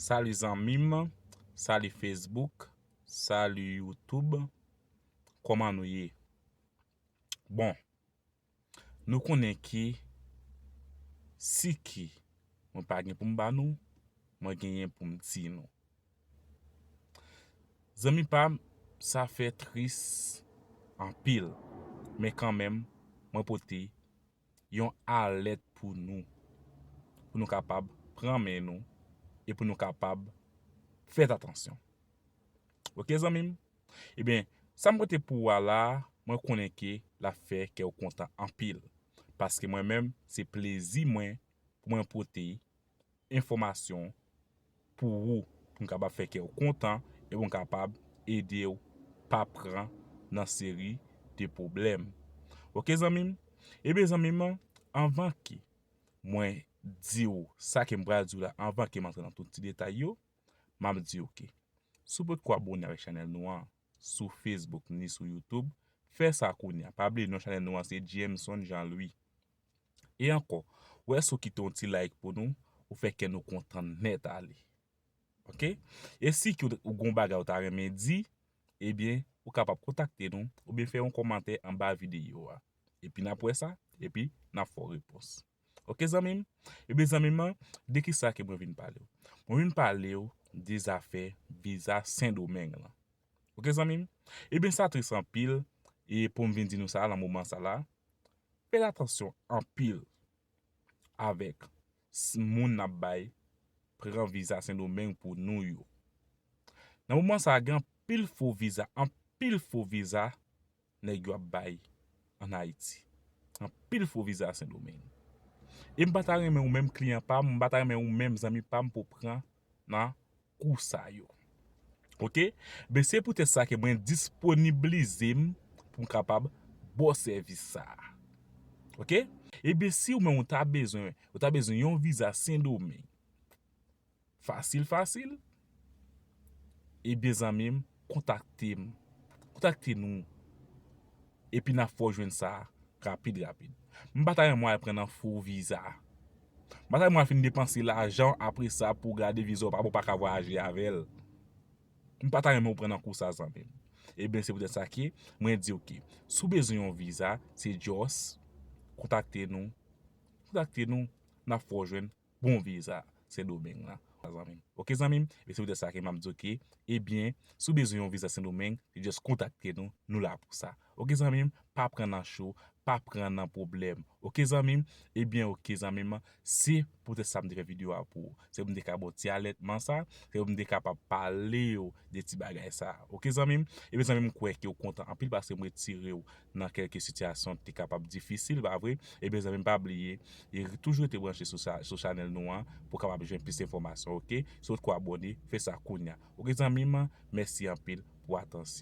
Salut zanmim Salut Facebook Salut YouTube Koman nou ye Bon Nou konnen ki Si ki Mwen pa gen poum ba nou Mwen genyen poum di nou Zanmi pam sa fè tris Anpil Men kanmenm Mwen pote yon alèt pou nou, pou nou kapab pran men nou e pou nou kapab fèt atansyon. Ok zanmi m? Ebyen, sa m pote pou ou a la a, mwen konnen ke l ap fè kè w kontan anpil, paske mwen menm se plezi mwen pou mwen pote enfòmasyon pou ou pou m kapab fè kè w kontan e pou m kapab ede w pa pran nan seri de pwoblèm ok zanmi m ebyen zanmi m anvan ke mwen di w sa ke m pral di w la anvan ke m antre nan tout ti detay yo m ap di w ke si w potko abone avèk chanèl nou an sou Facebook ni sou YouTube, fè sa kounya. Pa bliye non chanèl nou an se Jameson Jean Louis. E ankò, wè si w kite yon ti like pou nou, ou fè kè nou kontan nèt ale. Ok? E si ki ou gen yon bagay ou ta renmen di, ebyen, ou kapab kontakte nou oubyen fè yon kòmantè anba videyo a. Epi n ap wè sa, epi n ap fè w repons. Ok zanmim, ebyen zanmim an de kisa ke mwen vin palew? Mwen vin palew de zafè viza sendomeng lan. Ok zanmim, ebyen sa tris anpil e poum vin di nou sa lan moman sa la, fèt atansyon anpil avèk moun nap bay pran viza sendomeng pou nou yo. Nan moman sa gen anpil fo viza, anpil fo viza nèg yo ap bay an Ayiti. Anpil fo viza Sendomeng. E m pa ta renmen ou menm kliyan pa m, m pa ta renmen ou menm zanmi pa m pou w pran nan kou sa yo. Ok? Ben se poutèt sa ke mwen disponiblize m pou m kapab ba w sèvis sa a. Ok? E ben si ou menm ou ta bezwen, ou ta bezwen yon viza Sendomeng, Fasil fasil? Ebyen zanmim kontakte m kontakte nou epi nap fè w jwenn sa rapid rapid. M pa ta renmen w al pran nan fo viza. M pa ta renmen w al fin depanse lajan w apre sa pou w gade viza w pa bon ou pa ka vwayaje avè l. M pa ta renmen w pran nan kou sa zanmim. Ebyen se poutèt sa ke mwen di w ke si w bezwen yon viza se just kontakte nou kontakte nou nap fè w jwenn bon vye sa sendomeng la zanmim ok zanmim e se poutèt sa ke map diw ke ebyen si w bezwen yon viza sendomeng se just kontakte nou nou la pou sa ok zanmim pa pran nan cho pa pran nan pwoblèm ok zanmim ebyen ok zanmim se poutèt sa m te fè video a pou ou se pou m te ka ba w ti alètman sa se pou m te kapab palew de ti bagay sa ok zanmim ebyen zanmim m kwè ke w kontan anpil paske m retirew nan kèlke sitiyasyon te kapab difisil pa vre ebyen zanmim pa bliye toujou rete branche sou chanèl nou an pou kapab jwenn plis enfòmasyon ok si ou poko abòne fè sa kounya ok zanmim mèsi anpil pou atansyon.